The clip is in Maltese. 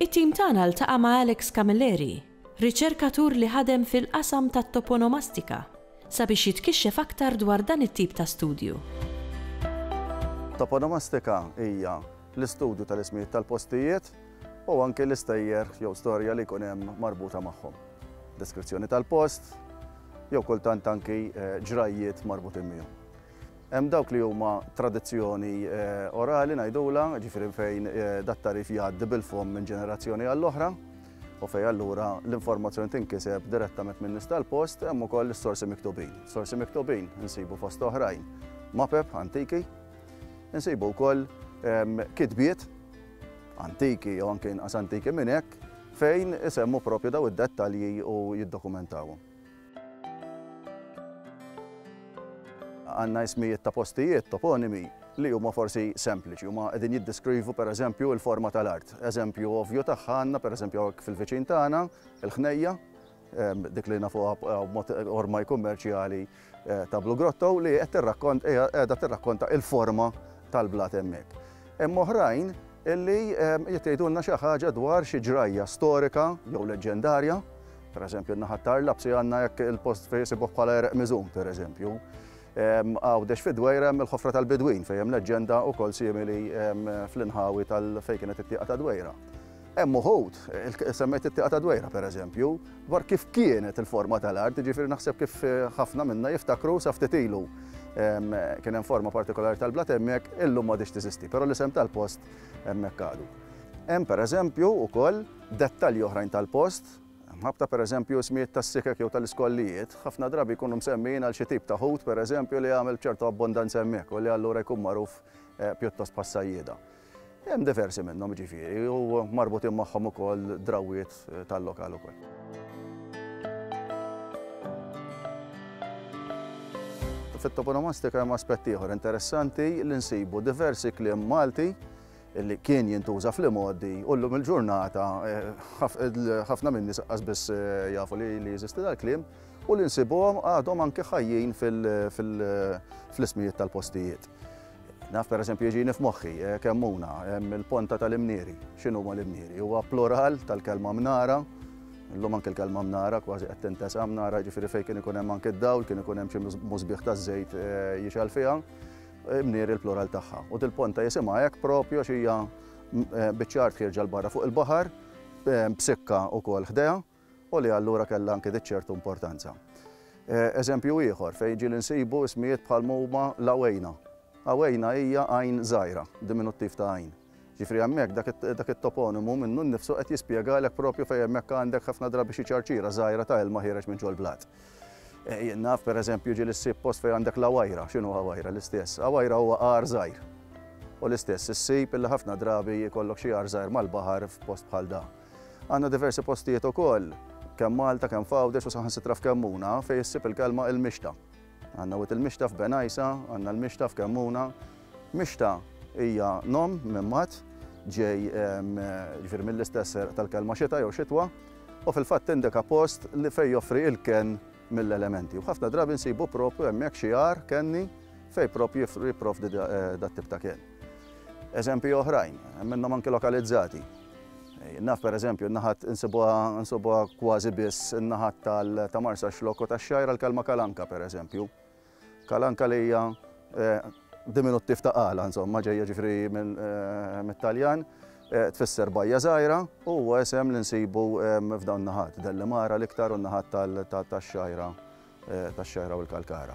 It-tim tagħna ltaqa' ma' Alex Camilleri, riċerkatur li ħadem fil-qasam tat-toponomastika, sabiex jitkixxef aktar dwar dan it-tip ta' studju. Toponomastika hija l-istudju tal-ismijiet tal-postijiet u anki l-istejjer jew storja li jkun hemm marbuta magħhom. Deskrizzjoni tal-post jew kultant anki ġrajjiet marbutin miegħu. Hemm dawk li huma tradizzjoni orali ngħidulha, ġifieri fejn dat-tagħrif jgħaddi bil-fomm minn ġenerazzjoni għall-oħra u fejn allura l-informazzjoni tinkiseb direttament min-nies tal-post, hemm ukoll is-sorsi miktubin. Sorsi miktubin insibu fost oħrajn mapep antiki, insibu wkoll kitbiet antiki jew anke inqas antiki minn hekk fejn isemmu propju daw id-dettalji u jiddokumentawhom. Għandna ismijiet ta' postijiet, toponimi, li huma forsi sempliċi, huma qegħdin jiddeskrivu pereżempju l-forma tal-art. Eżempju ovvju tagħha għandna pereżempju hawnhekk fil-viċin tagħna, il-ħnejja, ehm, dik li nafuha b'mod ormai kummerċjali ta' Blue Grotto li qed tirrakkont hija qiegħda tirrakkonta il-forma tal-blat hemmhekk. Hemm oħrajn illi jitgħidulna xi ħaġa dwar xi ġrajja storika jew leġġendarja, pereżempju n-naħa tar-Lapsi għandna hekk il-post fejn isibuh bħala erq miżum pereżempju. Għawdex fid-Dwejra hemm il-ħofra tal-Bidwin fejn hemm leġġenda wkoll simili fl-inħawi tal fejn kienet it-tieqa tad-Dwejra. Hemm uħud, semmejt it-tieqa ta' Dwejra pereżempju, dwar kif kienet il-forma tal-art, jiġifieri naħseb kif ħafna minna jiftakru sa ftit ilu kien hemm forma partikolari tal-blat hemmhekk, illum m'għadhiex teżisti, però l-isem tal-post hemmhekk għadu. Hemm pereżempju wkoll dettalji oħrajn tal-post, mħabbta pereżempju ismijiet tas-sikek jew tal-iskollijiet, ħafna drabi jkunu msemmijin għal xi tip ta' ħut pereżempju li għamel b'ċertu abbondanza hemmhekk u li allura jkun magħruf pjuttost bħas-sajjieda. Hemm diversi minnhom jiġifieri u marbutin magħhom ukoll drawwiet tal-lokal ukoll. fit-toponomastika hemm aspett ieħor interessanti li nsibu diversi kliem Malti li kien jintuża fl-imgħoddi u llum il-ġurnata eh, ħafna minn nies biss eh, jafu li jeżisti dal-kliem u li nsibuhom għadhom anke ħajjin fl-ismijiet tal-postijiet. Naf pereżempju jiġini f'moħħi eh, kemmuna, hemm il-ponta tal-imnieri. X'inhuma l-imnieri? Huwa plural tal-kelma mnara, Illum anke l-kelma mnara kważi qed tintesa mnara ġifieri fejn kien ikun hemm anke d-dawl, kien ikun hemm xi musbieħ taż-żejt eh, jixal fiha, mnier il-plural tagħha. U dil-ponta jisimha hekk propju xi hija eh, biċċar tħierġa l-barra fuq il-baħar, eh, b'sikka wkoll ħdejha. u li allura kellha anki dik ċertu importanza. Eżempju ieħor fejn ġieli nsibu ismijiet bħal ma huma l-Awejna. Awejna hija għajn żgħira, diminuttiv ta' għajn. Ġifri hemmhekk dak it-toponimu minnu nnifsu qed jispjegalek propju fejn hemmhekk għandek ħafna drabi xi ċarċira żgħira ta' ilma ħiereġ minn ġol-blat. Eh, jien naf pereżempju ġieli ssib post fejn għandek l-Awajra, x'inhu Awajra l-istess? Awajra huwa għar żgħir. U l-istess issib illi ħafna drabi jkollok xi għar żgħir mal-baħar f'post bħal dan. Għandna diversi postijiet ukoll, kemm Malta, kemm f'Għawdex u saħansitra f'Kemmuna, fejn issib il-kelma il-mixta. Għandna wied il-mixta f'Benajsa, għandna l-mixta f'Kemmuna. Mixta hija nom minn mat, ġej jiġifieri mill-istess tal-kelma xita jew xitwa, u fil-fatt tindika post li fejn joffri il-kenn mill-elementi u ħafna drabi nsibu proprju hemmhekk xi għar kenni fejn proprju jipprovdi dat-tip ta' kenn. Eżempji oħrajn, hemm minnhom anki lokalizzati. Naf pereżempju n-naħat insibuha kważi biss in-naħat ta' Marsaxlokk u tax-Xgħajra l-kelma kalanka pereżempju. Kalanka li hija diminuttiv ta' Kala, insomma, ġejja ġifieri mit-Taljan, tfisser bajja żgħira u huwa isem li nsibu f'dawn in-naħat, Dellimara l-iktar u n-naħat tax-Xgħajra, tax-Xgħajra u l-Kalkara.